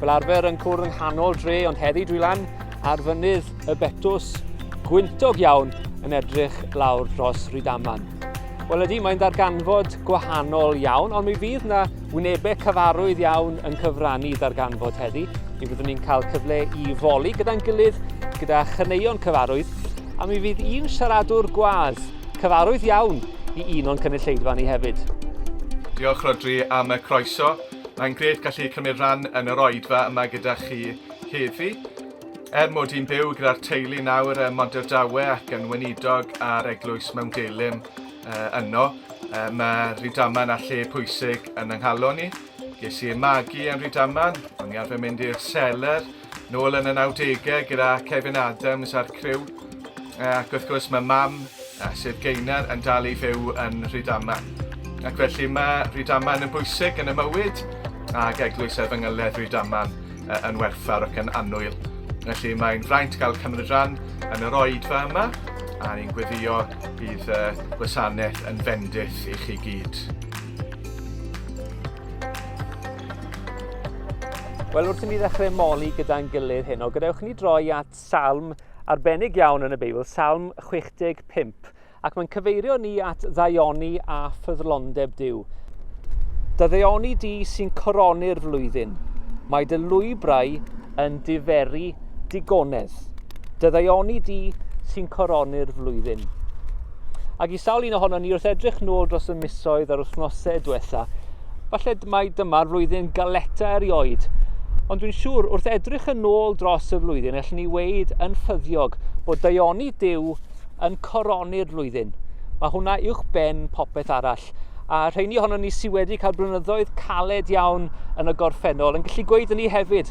Fel arfer yn cwrdd yng nghanol dre ond heddi dwi lan ar fynydd y Betws gwyntog iawn yn edrych lawr dros Rydaman. Wel ydy, mae'n darganfod gwahanol iawn, ond mi fydd yna wynebau cyfarwydd iawn yn cyfrannu darganfod heddi. Mi fyddwn ni'n cael cyfle i foli gyda'n gilydd, gyda chyneuon cyfarwydd, a mi fydd un siaradwr gwadd cyfarwydd iawn i un o'n cynulleidfa ni hefyd. Diolch Rhodri am y croeso. Mae'n grêt gallu cymryd rhan yn yr oedfa yma gyda chi heddi. Er mod i'n byw gyda'r teulu nawr ym Monterdawe ac yn weinidog ar eglwys mewn Gelym uh, yno, uh, mae Rydaman a lle pwysig yn ynghalon ni. Ges i magu yn Rydaman, o'n i arfer mynd i'r seler, Nôl yn y 90au gyda Kevin Adams a'r criw, ac wrth gwrs mae mam, sef Geinar, yn dal i fyw yn Rhydama. Ac felly mae Rhydama yn bwysig yn y mywyd, ac eglwys ef yng Ngyledd Rhydama yn werthfawr ac yn annwyl. Felly mae'n fraint gael cymryd rhan yn yr oedfa yma, a ni'n gweddio bydd gwasanaeth yn fendith i chi gyd. Wel, wrth i ni ddechrau moli gyda'n gilydd hyn, o gadewch ni droi at salm arbennig iawn yn y Beibl, salm 65, ac mae'n cyfeirio ni at ddaioni a ffyddlondeb Dyw. Dy ddaioni di sy'n coroni'r flwyddyn, mae dy lwybrau yn diferu digonedd. Dyddaioni di sy'n coroni'r flwyddyn. Ac i sawl un ohono ni wrth edrych nôl dros y misoedd a'r wythnosau diwetha, falle mai dyma'r flwyddyn galeta erioed. Ond dwi'n siŵr, wrth edrych yn ôl dros y flwyddyn, allwn ni weid yn ffyddiog bod daioni Dyw yn coroni'r flwyddyn. Mae hwnna uwch ben popeth arall. A rheini ohono ni sydd wedi cael blynyddoedd caled iawn yn y gorffennol yn gallu gweud yn ni hefyd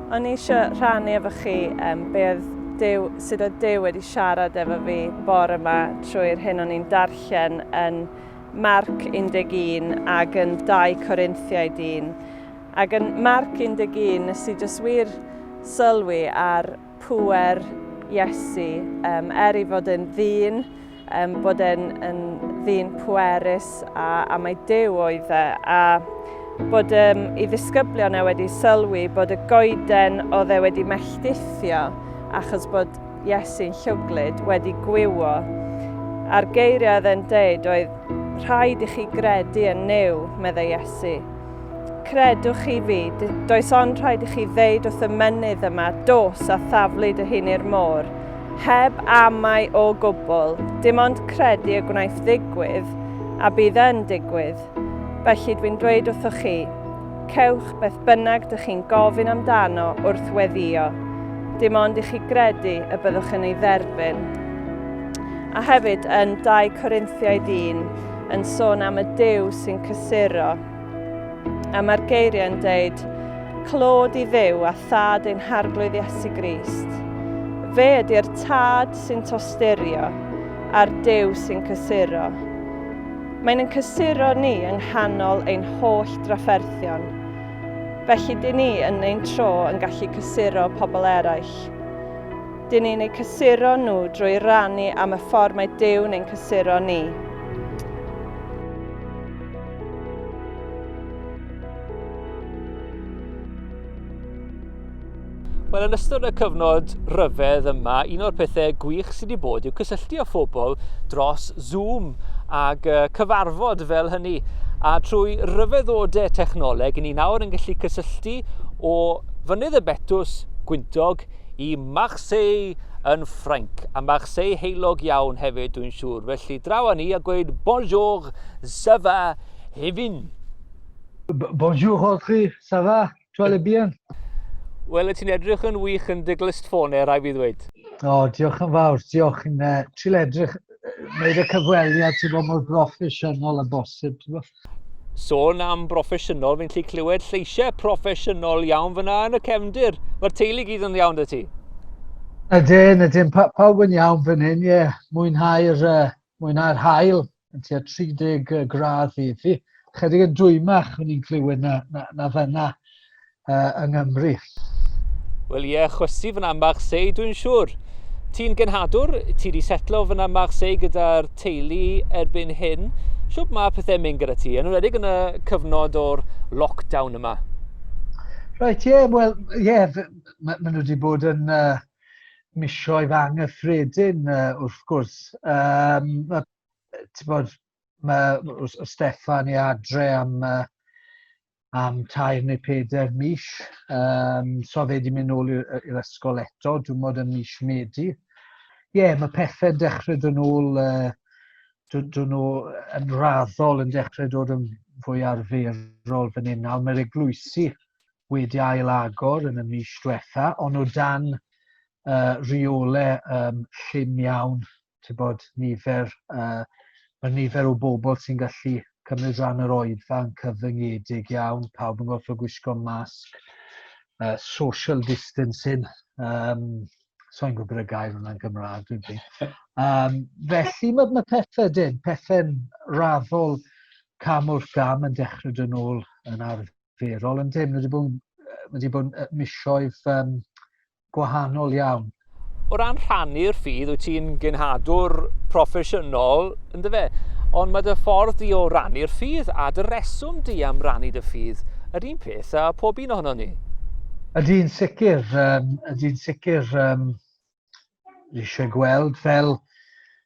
O'n i eisiau rhannu efo chi um, be oedd Dyw, sut oedd Dyw wedi siarad efo fi bore yma trwy'r hyn o'n i'n darllen yn Marc 11 ac yn 2 Corinthiaid 1. Ac yn Marc 11, nes i jyst wir sylwi ar pwer Iesu, um, er i fod yn ddyn, Um, bod e'n yn ddyn pwerus a, a mae dew oedd e, a bod um, i ddisgyblion e wedi sylwi bod y goeden oedd e wedi melltithio achos bod Iesu'n llwglyd wedi gwywo. A'r geiriau oedd e'n deud oedd rhaid i chi gredu yn new, meddai Iesu. Credwch chi fi, does ond rhaid i chi ddeud wrth y menydd yma dos a thaflu dy hun i'r môr, heb amau o gwbl, dim ond credu y gwnaeth ddigwydd, a bydd yn digwydd. Felly dwi'n dweud wrthoch chi, cewch beth bynnag dych chi'n gofyn amdano wrth weddio, dim ond i chi gredu y byddwch yn ei dderbyn. A hefyd yn 2 Corinthiaid 1, yn sôn am y Duw sy'n cysuro. A mae'r geiriau yn deud, clod i ddew a thad ein harglwydd Iesu Grist. Fe ydy'r tad sy'n tosturio a'r dew sy'n cysuro. Mae'n yn cysuro ni yng nghanol ein holl drafferthion. Felly dyn ni yn ein tro yn gallu cysuro pobl eraill. Dyn ni'n eu cysuro nhw drwy rannu am y ffordd mae Dyw'n ein cysuro ni. Wel, yn ystod y cyfnod rhyfedd yma, un o'r pethau gwych sydd wedi bod yw cysylltu â phobl dros Zoom ac uh, cyfarfod fel hynny. A trwy ryfeddodau technoleg, ni'n nawr yn gallu cysylltu o fynydd y Betws, Gwyntog, i Marseille yn Ffrainc, a Marseille heulog iawn hefyd dwi'n siŵr, felly draw â ni a gweud bonjour, ça va, Hefin? Bonjour Rodri, ça va? Tu allais bien? Wel, y ti'n edrych yn wych yn dy glust ffone, rai fi ddweud. O, diolch yn fawr, diolch yn uh, trill edrych, wneud y cyfweliad, ti'n bod mor broffesiynol a bosib, ti'n bod? Sôn am broffesiynol, fi'n lli clywed lleisiau proffesiynol iawn fyna yn y cefndir. Mae'r teulu gyd yn iawn dy ti? Ydyn, ydyn, pa, pawb yn iawn fan hyn, ie. Yeah. Mwynhau'r uh, mwynhau hael yn tua 30 gradd i fi. Chydig yn dwymach o'n i'n clywed na, na, na fyna. uh, yng Nghymru. Wel ie, chwysu fyna Marseille, dwi'n siŵr. Ti'n genhadwr, ti wedi setlo fyna Marseille gyda'r teulu erbyn hyn. Siwp mae pethau'n mynd gyda ti, yn ymwedig yn y cyfnod o'r lockdown yma? Rhaid, ie, yeah, wel, ie, yeah, maen ma nhw wedi bod yn uh, misioedd anghyffredin, uh, wrth gwrs. Um, mae, ti'n bod, mae, o Stefan i adre am uh, am tair neu peder mis. Um, so fe di mynd nôl i'r ysgol eto, dwi'n modd yn mis Medi. Ie, yeah, mae pethau'n dechrau dod yn ôl, uh, dod yn ôl yn raddol yn dechrau dod yn fwy arferol fan hyn nawr. Mae'r eglwysi wedi ail agor yn y mis diwetha, ond o dan uh, rheolau um, llym iawn ti'n bod, nifer, uh, mae nifer o bobl sy'n gallu cymryd rhan yr oedfa'n cyfyngedig iawn, pawb yn gorfod gwisgo masg, uh, social distancing, um, so i'n gwybod y gair yna'n Gymraeg, dwi'n fi. Um, felly mae, mae pethau dyn, pethau'n raddol cam wrth gam yn dechrau dyn nhw'n yn arferol, yn dyn, mae wedi bod, wedi bod misioedd um, gwahanol iawn. O ran rhannu'r ffydd, wyt ti'n genhadwr proffesiynol, ynddo fe? Ond mae dy ffordd di o rannu'r ffydd a dy reswm di am rannu dy ffydd yr un peth a pob un ohono ni. Ydy'n sicr, um, ydy'n sicr um, eisiau gweld fel,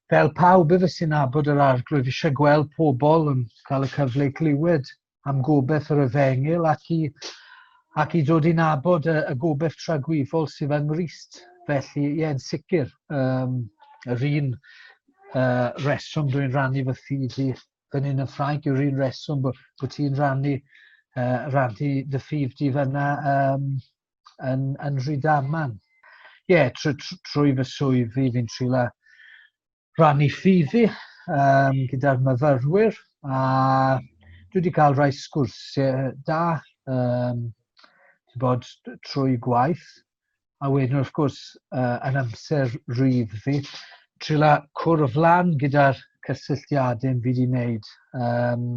fel pawb efo sy'n abod yr arglwydd, eisiau gweld pobl yn cael y cyfle i glywed am gobaith yr efengyl ac i, ac i ddod i nabod y, y gobaith tragwyfol sydd yng Nghrist. Felly, ie, yn sicr, um, yr un uh, reswm dwi'n rannu fy ffydd i fan hyn yn Ffrainc yw'r un reswm bod, bod ti'n rannu, uh, rannu dy ffydd di fyna um, yn, yn Rhydaman. Ie, yeah, trwy, trwy fy swydd fi fi'n trila rannu ffiddi um, gyda'r myfyrwyr a dwi wedi cael rhai sgwrsiau da um, bod, trwy gwaith a wedyn wrth gwrs uh, yn amser rhydd fi trila cwrdd lan gyda'r cysylltiadau fi wedi wneud um,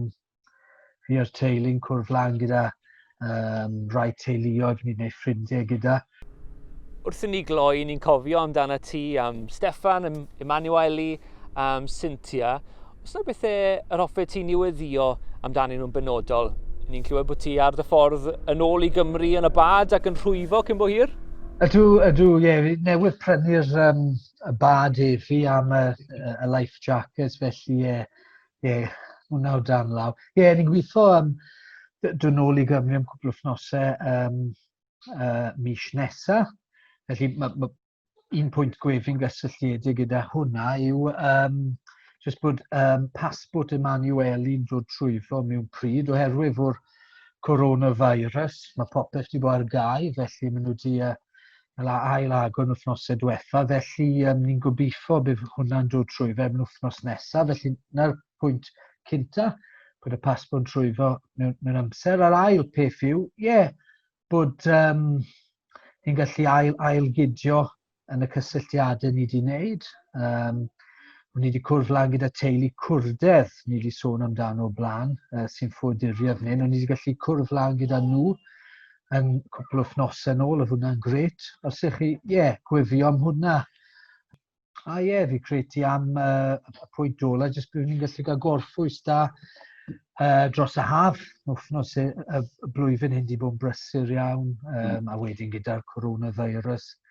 Fi a'r teulu'n cwrdd lan gyda um, rai teuluoedd, fi'n gwneud ffrindiau gyda. Wrth i ni gloi, ni'n cofio amdana ti am Stefan, Emanueli, am Cynthia. Os yna bethau yr hoffet ti niweddio amdanyn nhw'n benodol, ni'n clywed bod ti ar dy ffordd yn ôl i Gymru yn y bad ac yn rhwyfo cyn bo hir? Ydw, ydw, ie, yeah, newydd prynu'r um, y bad efi am y, y life jackets, felly ie, yeah, Ie, yeah, hwnna o dan law. Ie, yeah, ni'n gweithio am dwi'n ôl i Gymru am cwpl o fnosau um, uh, mis nesaf. Felly mae ma, un pwynt gwef i'n gysylltiedig gyda hwnna yw um, jyst bod um, pasbwrt Emanueli'n dod trwyfo mewn pryd oherwydd o'r coronavirus. Mae popeth wedi bod ar gau, felly maen nhw wedi uh, fel a ail agor yn wythnosau diwetha, felly um, ni'n gobeithio bydd hwnna'n dod trwy fe yn wythnos nesaf, felly na'r pwynt cynta, bod y pasbon trwy fo mewn, mewn amser. A'r ail peth yw, ie, yeah, bod um, ni'n gallu ail, ail gydio yn y cysylltiadau ni wedi wneud. Um, Ni wedi cwrdd lan gyda teulu cwrdedd, ni wedi sôn amdano o blaen, uh, sy'n ffoduriodd ni. Ni wedi gallu cwrdd lan gyda nhw yn cwpl o wythnosau yn ôl, oedd hwnna'n gret. Os ych chi, ie, yeah, gwefio am hwnna. A ie, yeah, fi creti am uh, y pwynt ola, jyst byddwn ni'n gallu cael gorffwys da uh, dros y haf, wythnos y, y, y blwyddyn hyn di bod yn brysur iawn, um, a wedyn gyda'r coronavirus. Uh,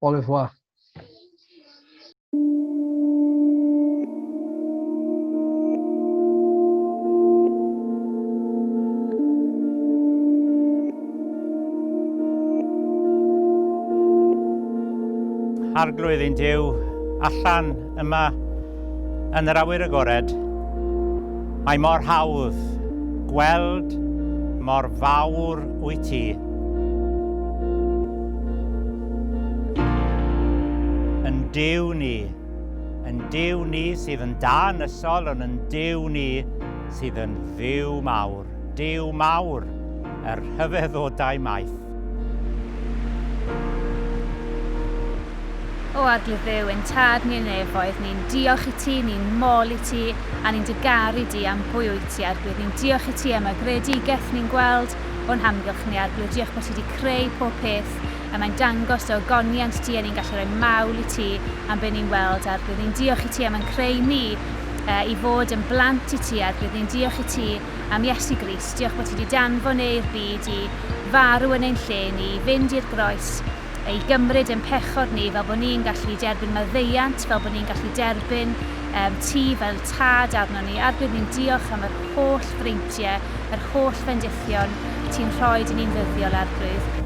Au revoir. Arglwydd i'n Duw, allan Yma, yn yr awyr agored, mae mor hawdd gweld mor fawr wyt ti. Yn Dyw ni, yn Dyw ni sydd yn da yn ysol, ond yn Dyw ni sydd yn ddiw mawr, Dyw mawr, yr rhyfeddodau maith. O a dy Dduw ein tad ni yn nefoedd, ni'n diolch i ti, ni'n mol i ti, a ni'n dy garu di am pwy wyt ti, Arglwydd. Ni'n diolch i ti am y greadigaeth ni'n gweld o'n hamgylch ni, Arglwydd. Diolch bod ti wedi creu pob peth, a mae'n dangos dy ogoniant di, a ni'n gallu rhoi mawl i ti am be ni'n weld, Arglwydd. Ni'n diolch i ti am yn creu ni uh, i fod yn blant i ti, Arglwydd. Ni'n diolch i ti am Iesu Grist, diolch bod ti wedi danfon e i'r byd i farw yn ein lle ni, i fynd i'r groes, i gymryd ein pechod ni fel bod ni'n gallu derbyn maddeuant, fel bod ni'n gallu derbyn um, ti fel tad arno ni, a'r bydd ni'n diolch am yr holl freintiau, yr holl fendithion ti'n rhoi dyn ni'n ddyddiol arglwydd.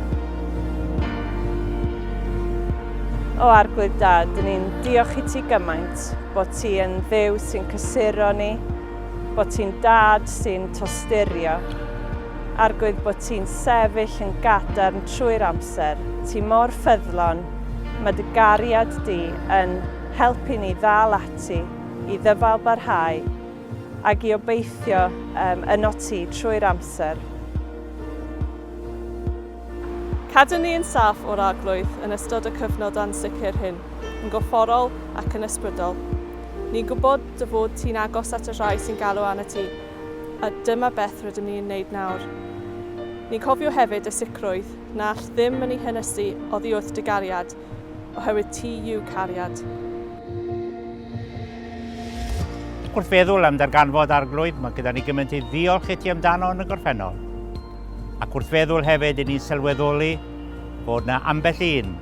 O Arglwydd Dad, dyn ni'n diolch i ti gymaint bod ti yn ddew sy'n cysuro ni, bod ti'n dad sy'n tosturio. Arglwydd bod ti'n sefyll yn gadarn trwy'r amser, ti mor ffyddlon, mae dy gariad di yn helpu ni ddal ati i ddyfal barhau ag i obeithio um, yno ti trwy'r amser. Cadw ni yn saff o'r arglwydd yn ystod y cyfnod ansicr hyn, yn gorfforol ac yn ysbrydol. Ni'n gwybod dy fod ti'n agos at y rhai sy'n galw arnat ti, a dyma beth rydym ni'n wneud nawr. Ni'n cofio hefyd y sicrwydd na all ddim yn ei hynysu oddi wrth dy gariad, oherwydd ti yw cariad. Wrth feddwl am ddarganfod Arglwydd, mae gyda ni gymaint i ddiolch i ti amdano yn y gorffennol. Ac wrth feddwl hefyd i ni'n sylweddoli bod na ambell un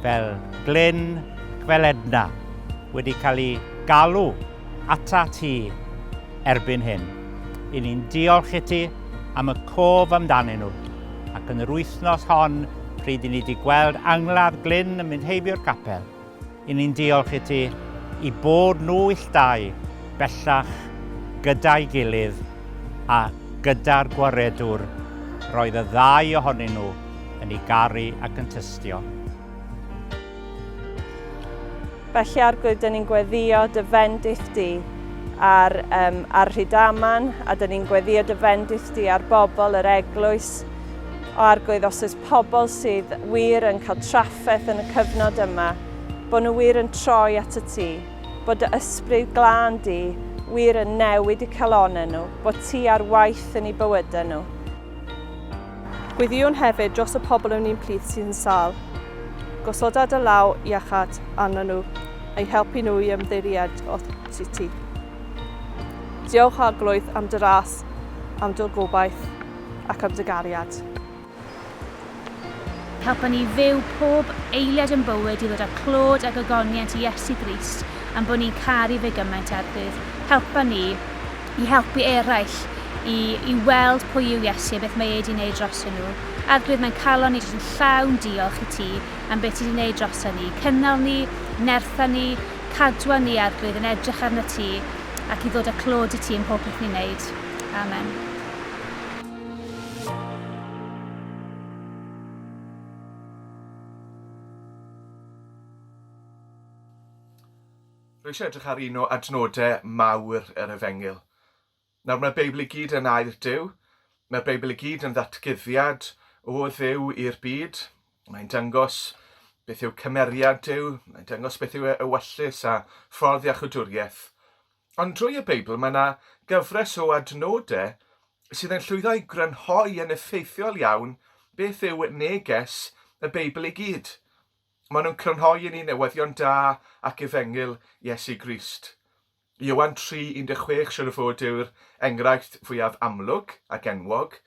fel Glyn, fel Edna, wedi cael ei galw ata ti erbyn hyn. I ni'n diolch i ti am y cof amdanyn nhw. Ac yn yr wythnos hon, pryd i ni wedi gweld angladd glyn yn mynd heibio'r capel, i ni'n diolch i ti i bod nhw illtau bellach gyda'i gilydd a gyda'r gwaredwr roedd y ddau ohonyn nhw yn ei garu ac yn tystio. Felly Arglwydd, dyn ni'n gweddio dy fendith di ar, um, ar Rhydaman, a dyn ni'n gweddio dy fendith di ar bobl yr eglwys. O Arglwydd, os oes pobl sydd wir yn cael trafferth yn y cyfnod yma, bod nhw wir yn troi at y ti, bod dy ysbryd glân di wir yn newid y calonau nhw, bod ti ar waith yn ei bywydau nhw. Gweddïwn hefyd dros y pobl yn un plith sydd yn sâl. Gosoda dy law iachâd arnyn nhw, a'i helpu nhw i ymddeiried at ti. Diolch, Arglwydd, am dy ras, am dy gobaith, ac am dy gariad. Helpa ni fyw pob eiliad yn bywyd i ddod â clod a gogoniant i Iesu Grist am bod ni'n caru fe gymaint a'r Dydd. Helpa ni i helpu eraill i i weld pwy yw Iesu a beth mae e 'di wneud drosyn nhw. Arglwydd, mae'n calon ni jyst yn llawn diolch i ti am be ti 'di wneud droson ni. Cynnal ni, nertha ni, cadwa ni, Arglwydd, yn edrych arnat ti ac i ddod â clod i ti ym mhob peth ni'n wneud. Amen. Rwy eisiau edrych ar un o adnodau mawr yr Efengyl. Nawr, mae'r Beibl i gyd yn air Duw. Mae'r Beibl i gyd yn ddatguddiad o Dduw i'r byd. Mae'n dangos beth yw cymeriad Duw, mae'n dangos beth yw e- ewyllys a ffordd iachwdwriaeth. Ond drwy y Beibl mae yna gyfres o adnodau sydd yn llwyddo i grynhoi yn effeithiol iawn beth yw neges y Beibl i gyd. Maen nhw'n crynhoi i ni newyddion da ac efengyl Iesu Grist. Iowan 3:16 siwr o fod yw'r enghraifft fwyaf amlwg ac enwog,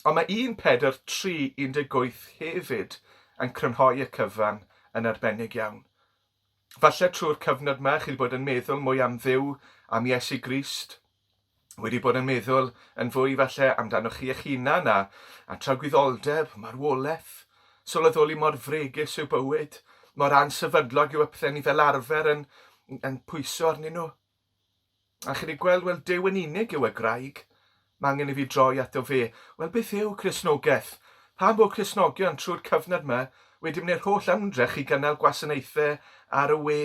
ond mae 1 Pedr 3:18 hefyd yn crynhoi y cyfan yn arbennig iawn. Falle trwy'r cyfnod yma chi wedi bod yn meddwl mwy am Dduw, am Iesu Grist, wedi bod yn meddwl yn fwy falle amdanoch chi eich hunan a, a tragwyddoldeb, marwolaeth, sylweddoli mor fregus yw bywyd, mor ansefydlog yw y pethau ni fel arfer yn, yn pwyso arnyn nhw. A chi wedi gweld, wel, Dyw yn unig yw y graig. Mae angen i fi droi ato fe. Wel, beth yw Cresnogaeth? Pam bod Cresnogion trwy'r cyfnod yma wedi mynd i'r holl ymdrech i gynnal gwasanaethau ar y we?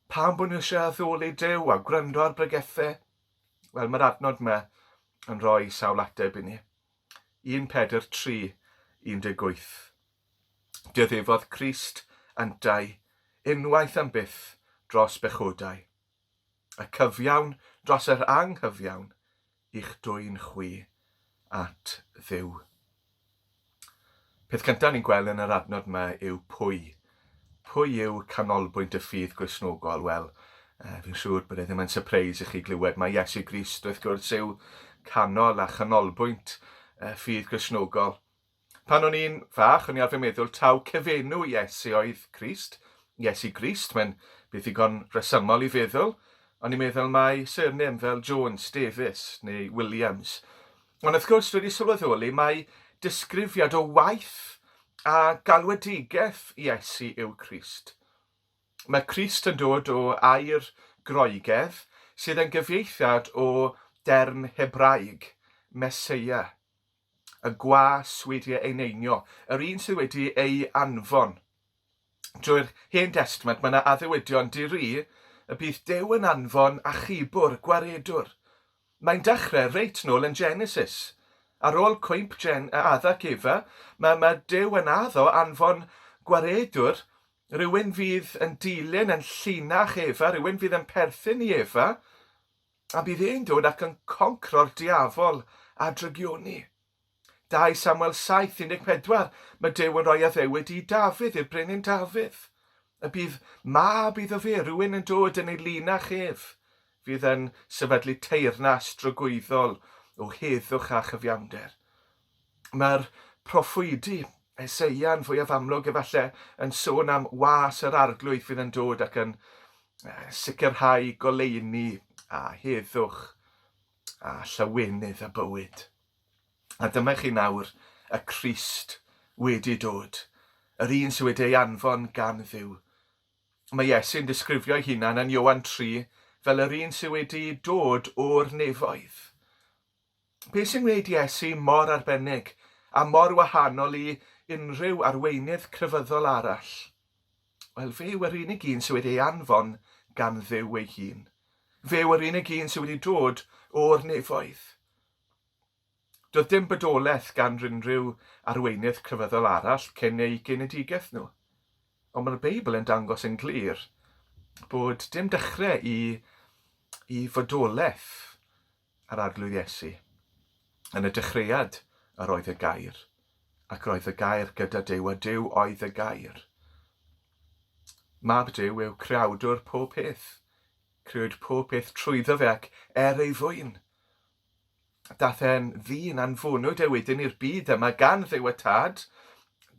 Pam bod ni eisiau addoli Duw a gwrando ar bregethau? Wel, mae'r adnod yma yn rhoi sawl ateb i ni. 1 Pedr 3, 18. Dioddefodd Crist yntau unwaith am byth dros bechodau, y cyfiawn dros yr anghyfiawn, eich dwyn chwi at Dduw. Peth cyntaf ni'n gweld yn yr adnod yma yw pwy. Pwy yw canolbwynt y ffydd Gristnogol? Wel, uh, fi'n siŵr bod e ddim yn surprise i chi glywed mae Iesu Grist wrth gwrs yw canol a chanolbwynt y ffydd Gristnogol. Pan o'n i'n fach, o'n i arfer meddwl taw cyfenw Iesu oedd Crist, Iesu Grist, mae'n beth ddigon rhesymol i feddwl. O'n i'n meddwl mai surname fel Jones, Davies neu Williams. Ond wrth gwrs, dwi wedi sylweddoli mai disgrifiad o waith a galwedigaeth Iesu yw Crist. Mae Crist yn dod o air Groegaidd sydd yn gyfieithiad o derm Hebraeg, Meseia. y gwas wedi ei eneinio, yr un sydd wedi ei anfon. Drwy'r Hen Destment mae yna addewedion di-ri y bydd Duw yn anfon achubwr, gwaredwr. Mae'n dechrau reit nôl yn Genesis. Ar ôl cwymp Gen a Adda ac Efa, mae, mae Duw yn addo anfon gwaredwr, rhywun fydd yn dilyn, yn llinach Efa, rhywun fydd yn perthyn i Efa, A bydd e'n dod ac yn concro'r diafol a drygioni. 2 Samuel 7, 14, Mae Duw yn rhoi addewid i Dafydd, i'r brenin Dafydd. Y bydd mab iddo fe, rhywun yn dod yn ei linach ef, fydd yn sefydlu teyrnas drygwyddol o heddwch a chyfiawnder. Mae'r proffwydi Eseia'n fwyaf amlwg efallai yn sôn am was yr Arglwydd fydd yn dod ac yn sicrhau goleuni a heddwch a llawenydd a bywyd. A dyma chi nawr y Crist wedi dod, yr un sydd wedi ei anfon gan Dduw. Mae Iesu'n disgrifio'i hunan yn Ioan 3 fel yr un sydd wedi dod o'r nefoedd. Be' sy'n gwneud Iesu mor arbennig a mor wahanol i unrhyw arweinydd crefyddol arall? Wel, fe yw yr unig un sydd wedi ei anfon gan Dduw ei hun. Fe yw yr unig un sydd wedi dod o'r nefoedd. Doedd dim bodolaeth gan rynrhyw arweinydd crefyddol arall cyn eu genedigaeth nhw. Ond mae'r Beibl yn dangos yn glir bod dim dechrau i i fodolaeth Ar Arglwydd Iesu. Yn y dechreuad yr oedd y gair, ac roedd y gair gyda Duw, a Duw oedd y gair. Mab Duw yw creawdwr pob peth. Crewyd pob peth trwyddo fe ac er ei fwyn. Dath e'n ddyn anfonwyd e wedyn i'r byd yma gan ddew y tad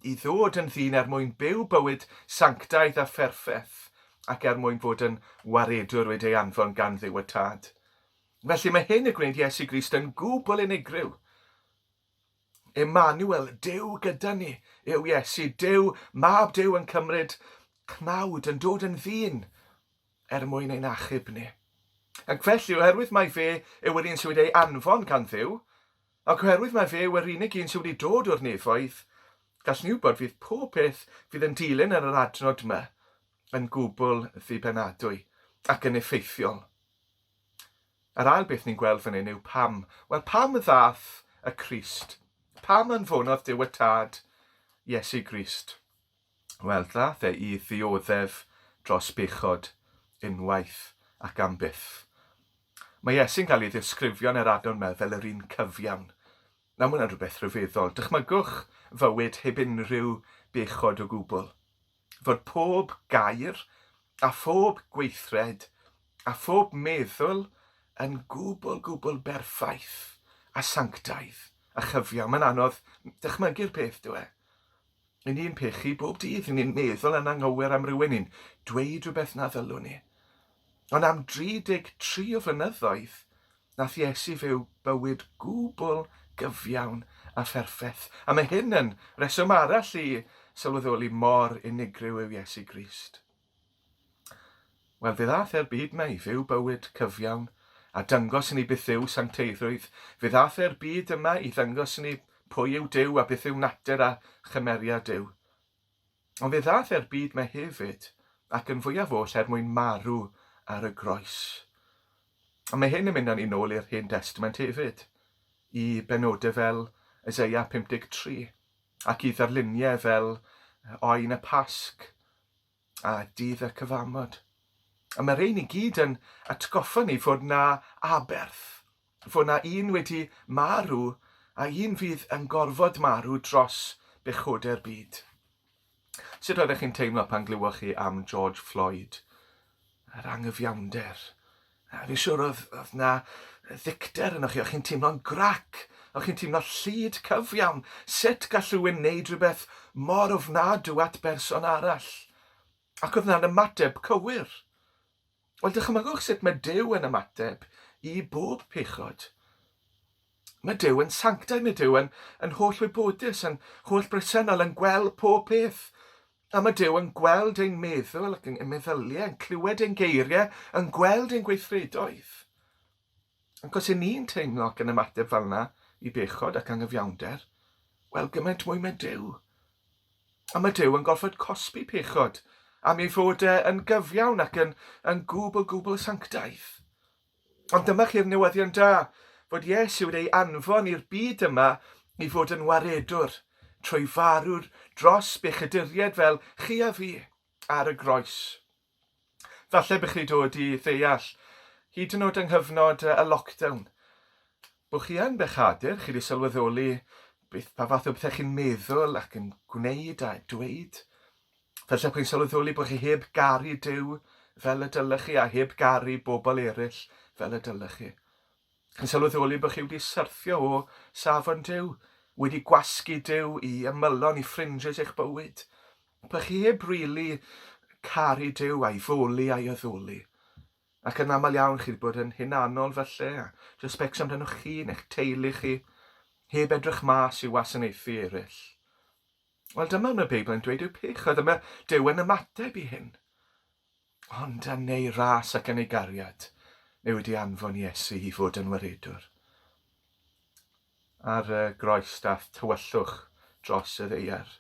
i ddod yn ddyn er mwyn byw bywyd sanctaidd a pherffeth ac er mwyn bod yn waredwr wedi ei anfon gan ddew y tad. Felly mae hyn y gwneud Iesu Grist yn gwbl unigryw. Emmanuel, Duw gyda ni, yw Iesu, Duw, Mab Duw yn cymryd cnawd, yn dod yn ddyn, er mwyn ein achub ni. Ac felly, oherwydd mae fe yw yr un sydd wedi ei anfon gan Dduw, ac oherwydd mae fe yw yr unig un sydd wedi dod o'r nefoedd, gall ni wybod fydd pob peth fydd yn dilyn yn yr adnod yma yn gwbl ddibenadwy ac yn effeithiol. Yr ail beth ni'n gweld fan hyn yw pam. Wel, pam ddath y Crist? Pam anfonodd Duw y Tad Iesu Grist? Wel, ddath e i ddioddef dros bechod unwaith ac am byth. Mae Iesu'n cael ei ddisgrifio yn yr adnod yma fel yr un cyfiawn. Nawr, mae hwnna'n rhywbeth rhyfeddol. Dychmygwch fywyd heb unrhyw bechod o gwbl. fod pob gair a phob gweithred a phob meddwl yn gwbl, gwbl berffaith a sanctaidd a chyfiawn. Mae'n anodd dychmygu'r peth, dyw e? Yn ni'n pechu bob dydd, yn ni'n meddwl yn anghywir am rywun, ni'n dweud rhywbeth na ddylwn ni. Ond am 33 o flynyddoedd, Nath Iesu fyw bywyd gwbl gyfiawn a pherffeth, a mae hyn yn reswm arall i sylweddoli mor unigryw yw Iesu Grist. Wel, fe ddath e'r byd mae i fyw bywyd cyfiawn, a dyngos i ni beth yw sancteiddrwydd. Fe ddath e'r byd yma i ddangos i ni pwy yw Duw a beth yw natur a chymeriad Duw. Ond fe ddaeth e'r byd mae hefyd, ac yn fwyaf oll er mwyn marw ar y groes. A mae hyn yn mynd â ni nôl i'r Hen Destament hefyd, i benodau fel Eseia 53, ac i ddarluniau fel Oen y Pasg a Dydd y Cyfamod. A mae rhein i gyd yn atgoffa ni fod 'na aberth fod 'na un wedi marw a un fydd yn gorfod marw dros bechodau'r byd. Sut oeddech chi'n teimlo pan glywoch chi am George Floyd? Yr anghyfiawnder. A fi siwr oedd, oedd na ddicter yno chi, o'ch chi'n teimlo'n grac, o'ch chi'n teimlo llid cyfiawn. Sut gall rhywun wneud rhywbeth mor ofnadw at berson arall? Ac oedd na'n ymateb cywir. Wel, dychmygwch sut mae Duw yn ymateb i bob pechod. Mae Duw yn sanctaidd, mae Duw yn, yn holl wybodus, yn holl bresennol, yn gweld pob peth. A mae Duw yn gweld ein meddwl ac ein meddyliau, yn clywed ein geiriau, yn gweld ein gweithredoedd. Ac os 'yn ni'n teimlo ac yn ymateb fel yna i bechod ac anghyfiawnder, wel, gymaint mwy mae Duw. A mae Duw yn gorfod cosbi pechod am ei fod e yn gyfiawn ac yn, yn gwbl gwbl sanctaidd. Ond dyma chi'r newyddion da, fod Iesu wedi ei anfon i'r byd yma i fod yn waredwr, trwy farw dros bechaduriaid fel chi a fi ar y groes. Falle bych chi dod i ddeall, hyd yn oed yng nghyfnod y lockdown, bod chi yn bechadur, chi wedi sylweddoli beth pa fath o bethau chi'n meddwl ac yn gwneud a dweud. Felly chi'n sylweddoli bod chi heb garu Duw fel y dylech chi a heb garu bobl eraill fel y dylech chi. Chi'n sylweddoli bod chi wedi syrthio o safon Duw, wedi gwasgu Duw i ymylon, i ffringes eich bywyd, Dych chi heb rili caru Duw a'i foli a'i addoli. Ac yn aml iawn chi wedi bod yn hunanol falle, a jyst becso amdanoch chi neu'ch teulu chi, heb edrych mas i wasanaethu eraill. Wel, dyma mae Beibl yn dweud yw pech, a dyma Duw yn ymateb i hyn. Ond yn ei ras ac yn ei gariad, mae wedi anfon Iesu i fod yn waredwr. ar y groes daeth tywyllwch dros y ddaear,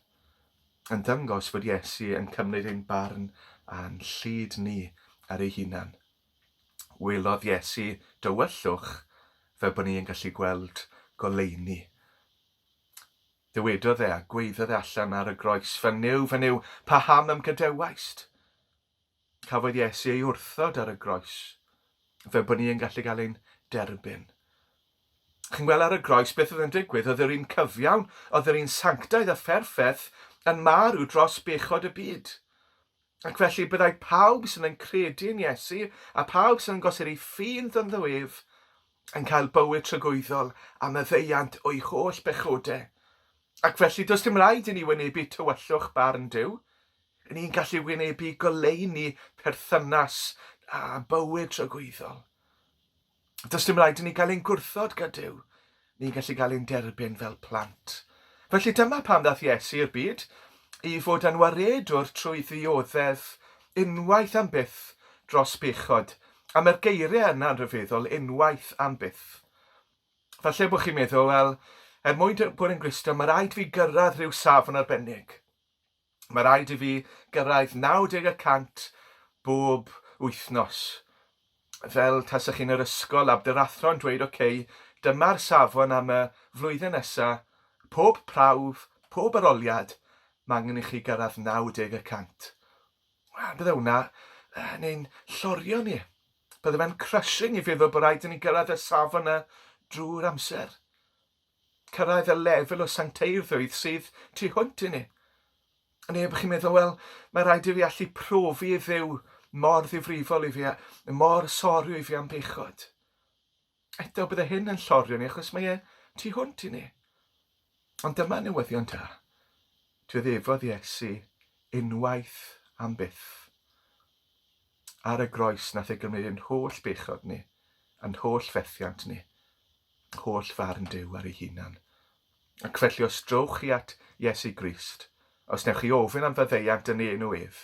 yn dangos fod Iesu yn cymryd ein barn a'n llid ni ar ei hunan. Welodd Iesu dywyllwch fel bod ni yn gallu gweld goleuni. Dywedodd e a gweiddodd e allan ar y groes, Fy Nuw, fy Nuw, paham ymgadewaist? Cafodd Iesu ei wrthod ar y groes, fel bod ni yn gallu cael ein derbyn. Chi'n gweld ar y groes beth oedd yn digwydd? Oedd yr un cyfiawn, oedd yr un sanctaidd a pherffaith yn marw dros bechod y byd. Ac felly byddai pawb sydd yn credu yn Iesu a pawb sydd yn gosod ei ffydd ynddo ef yn cael bywyd tragwyddol a maddeuant o'i holl bechodau. Ac felly, does dim rhaid i ni wynebu tywyllwch barn Duw, Ry'n ni'n gallu wynebu goleuni perthynas a bywyd tragwyddol. Does dim rhaid i ni gael ein gwrthod gydyw. Ni'n gallu cael ein derbyn fel plant. Felly dyma pam ddaeth Iesu i'r byd, i fod yn waredwr trwy ddioddef unwaith am byth dros bechod, a mae'r geiriau yna'n rhyfeddol, unwaith am byth. Falle bod chi'n meddwl, wel, er mwyn bod yn Gristion, mae rhaid fi gyrraedd rhyw safon arbennig. Mae rhaid i fi gyrraedd 90 y cant bob wythnos. Fel tasech chi'n yr ysgol ab dy rathro yn dweud ok, dyma'r safon am y flwyddyn nesa, pob prawf, pob aroliad, mae angen i chi gyrraedd 90 y cant. Wel, bydde hwnna yn ein llorio ni. Bydde fe'n crushing i feddwl bod rhaid i ni gyrraedd y safon yna drwy'r amser. Cyrraedd y lefel o sancteiddrwydd sydd tu hwnt i ni. A neu chi'n meddwl, wel, mae rhaid i fi allu profi i ddew mor ddifrifol i fi a mor sorio i fi am bechod. Eto, bydde hyn yn llorio ni achos mae e tu hwnt i ni. Ond dyma newyddion da. Dioddefodd Iesu unwaith am byth. Ar y groes nath e gymryd yn holl bechod ni, yn holl fethiant ni, holl farn Duw ar ei hunan. Ac felly os drowch chi at Iesu Grist, os newch chi ofyn am faddeuant yn ei enw ef,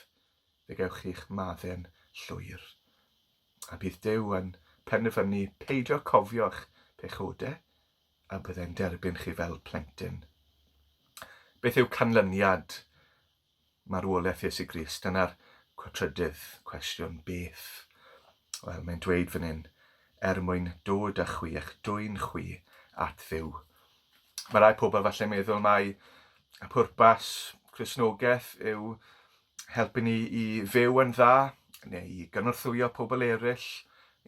fe gewch chi'ch madden llwyr. A bydd Duw yn penderfynu peidio cofio'ch pechodau, a byddai'n derbyn chi fel plentyn. Beth yw canlyniad Marwolaeth Iesu Grist. Dyna'r trydydd cwestiwn, beth? Wel, mae'n dweud fan hyn, er mwyn dod â chwi, eich dwyn chwi at Dduw. Mae rai pobl falle meddwl mai y pwrpas Crisnogaeth yw helpu ni i fyw yn dda, neu i gynorthwyo pobl eraill,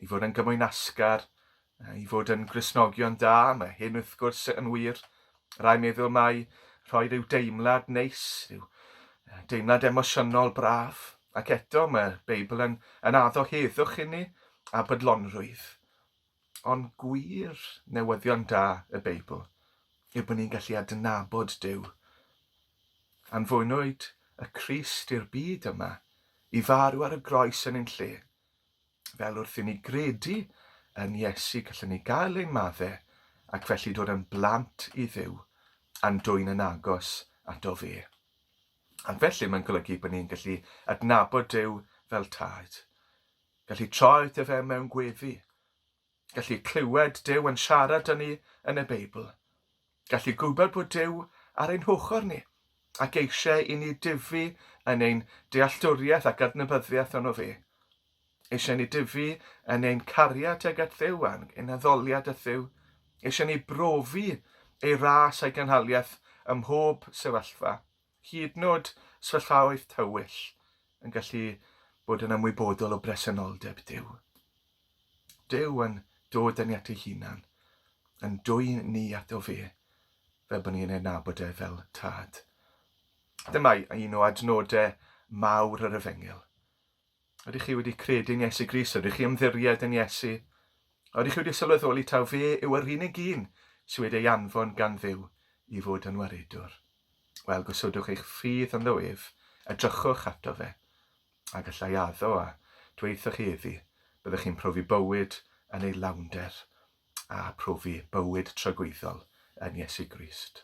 i fod yn gymwynasgar, I fod yn Gristnogion da, mae hyn wrth gwrs yn wir. Rai meddwl mai rhoi rhyw deimlad neis, rhyw deimlad emosiynol braf, ac eto mae'r Beibl yn, yn addo heddwch inni a bydlonrwydd. Ond gwir newyddion da y Beibl yw bod ni'n gallu adnabod Duw. Anfonwyd y Crist i'r byd yma i farw ar y groes yn ein lle. Fel wrth i ni gredu yn Iesu, gallwn ni gael ein maddau ac felly dod yn blant i Dduw a'n dwyn yn agos ato fe. Ac felly mae'n golygu bod ni'n gallu adnabod Duw fel tad, gallu troi ato fe mewn gweddi, Gallu clywed Duw yn siarad â ni yn y Beibl. Gallu gwybod bod Duw ar ein hochr ni ac eisiau i ni dyfu yn ein dealltwriaeth ac adnabyddiaeth ono fe. Eisiau ni dyfu yn ein cariad tuag at Dduw a'n ein addoliad at Dduw. Eisiau ni brofi ei ras a'i gynhaliaeth ym mhob sefyllfa. Hyd yn oed sefyllfaoedd tywyll yn gallu bod yn ymwybodol o bresenoldeb Duw. Duw yn dod yn ni at ei hunan, yn dwy ni ato fe, fel bod ni'n ei nabod e fel tad. Dyma un o adnodau mawr yr efengyl. Ydych chi wedi credu yn Iesu Grist? Ydych chi ymddiried yn Iesu? A ydych chi wedi sylweddoli taw fe yw yr unig un sydd wedi ei anfon gan Dduw i fod yn waredwr? Wel, gosodwch eich ffydd ynddo ef, edrychwch ato fe, a gallai addo a dweithoch chi iddi, byddwch chi'n profi bywyd yn ei lawnder a profi bywyd tragwyddol yn Iesu Grist.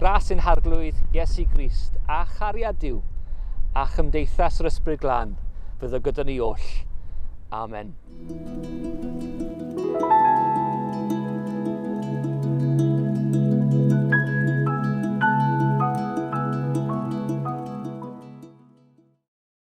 Gras yn harglwydd Iesu Grist a chariad Dyw a chymdeithas yr Ysbryd Glân fyddo gyda ni oll. Amen.